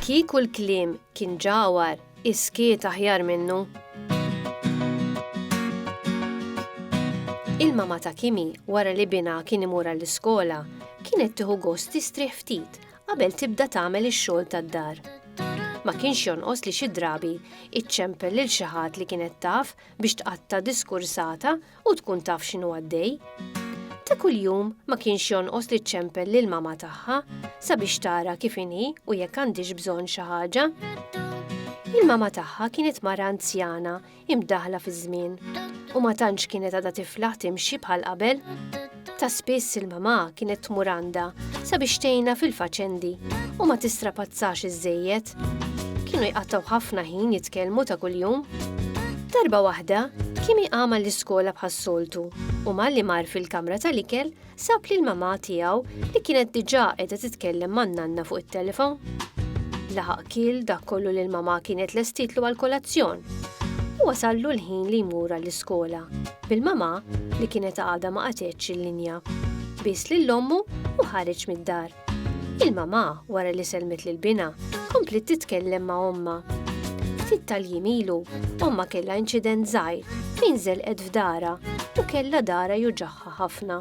Kieku l-kliem kien ġawar, iskiet aħjar minnu. Il-mama ta' Kimi, wara li bina kien imur għall-iskola, kienet tieħu gost tistrieħ ftit qabel tibda tagħmel ix-xogħol tad-dar. Ma kienx jonqos li xi drabi iċċempel lil xi ħadd li kienet taf biex tqatta' diskursata u tkun taf x'inhu għaddej. Ta' kuljum ma kienx jonqos li ċċempel lil mama tagħha sabiex tara kif inhi u jekk għandix bżonn xi ħaġa. Il-mama tagħha kienet mara anzjana hi mdaħħla fiż-żmien u ma tantx kienet għadha tiflaħ timxi bħal qabel. Ta' spiss il-mamà kienet tmur għandha sabiex tgħinha fil-faċendi u ma tistrapazzax iżżejjed. Kienu jqattgħu ħafna ħin jitkellmu ta' kuljum. Darba waħda, Kimi qama l-iskola bħas-soltu u malli mar fil-kamra tal-ikel sab lil mamà tiegħu li kienet diġà qiegħda titkellem man-nanna fuq it-telefon. Laħaq kiel dak kollu li l-mamà kienet lestitlu għall-kolazzjon u wasallu l-ħin li jmur għall-iskola bil-mamà li kienet għadha ma qatgħetx il-linja. Bies lil ommu u ħareġ mid-dar. Il-mamà, wara li sellmet lil binha, kompliet titkellem ma' ommha. Ftit tal-jiem ilu, ommha kellha inċident żgħir fejn żelqet f'darha u kellha darha juġagħha ħafna.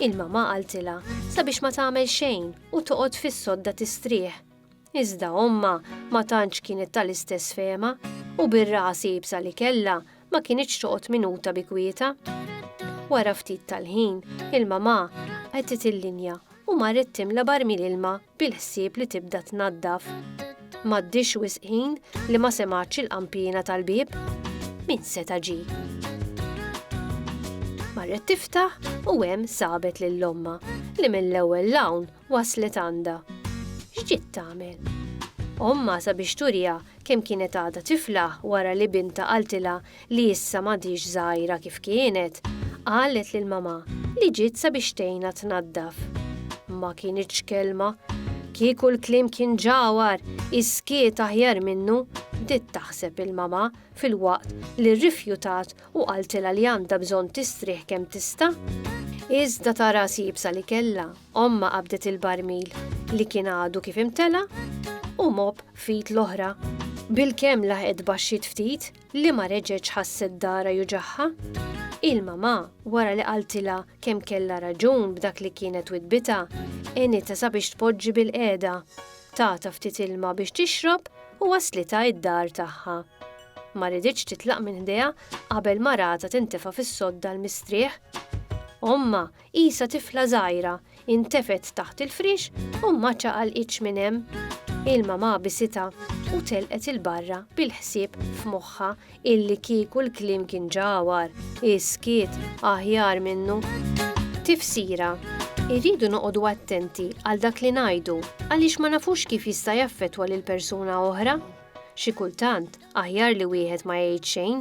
Il-mamà qaltilha sabiex ma tagħmel xejn u toqgħod fis-sodda tistrieħ. Iżda ommha ma tantx kienet tal-istess fehma u bir-ras iebsa li kellha ma kinitx toqgħod minuta bi kwietha. Wara ftit tal-ħin, il-mamà qegħdet il-linja u marret timla barmil ilma bil-ħsieb li tibda tnaddaf. M'għaddiex wisq ħin li ma semgħatx il-qanpiena tal-bieb. Min seta' ġie? Marret tiftaħ u hemm sabet lil ommha li mill-ewwel 'l hawn Waslet għandha. X'ġiet tagħmel? Ommha sabiex turiha kemm kienet għadha tifla wara li bintha qaltilha li issa m'għadhiex żgħira kif kienet, qalet lil mamà li ġiet sabiex tgħinha tnaddaf. Ma kinitx kelma. Kieku l-kliem kien ġagħwar, is-skiet aħjar minnu, bdiet taħseb il-mamà filwaqt li rrifjutat u qaltilha li għandha bżonn tistrieħ kemm tista'. Iżda tara s-siebsa li kellha! Ommha qabdet il-barmil li kien għadu kif imtela' u mopp f'id l-oħra. Bilkemm laħqet baxxiet ftit li ma reġgħetx ħasset darha juġagħha. Il-mamà, wara li qaltilha kemm kellha raġun b'dak li kienet widdbitha, għenitha sabiex tpoġġi bilqiegħda, tatha ftit ilma biex tixrob u wasslitha id-dar tagħha. Ma riditx titlaq minn ħdejha qabel maratha tintefa' fis-sodda l-mistrieħ. Ommha Qisha tifla żgħira, intefgħet taħt il-friex u ma ċaqalqitx minn hemm. Ilma ma għabisitha u telqet 'il barra bil-ħsieb f'moħħha illi kieku l-kliem kien ġa agħwar, is-skiet aħjar minnu. Tifsira, Irridu noqogħdu attenti għal dak li ngħidu għaliex ma nafux kif jista' jaffettwa lil persuna oħra. Xi kultant aħjar li wieħed ma jgħid xejn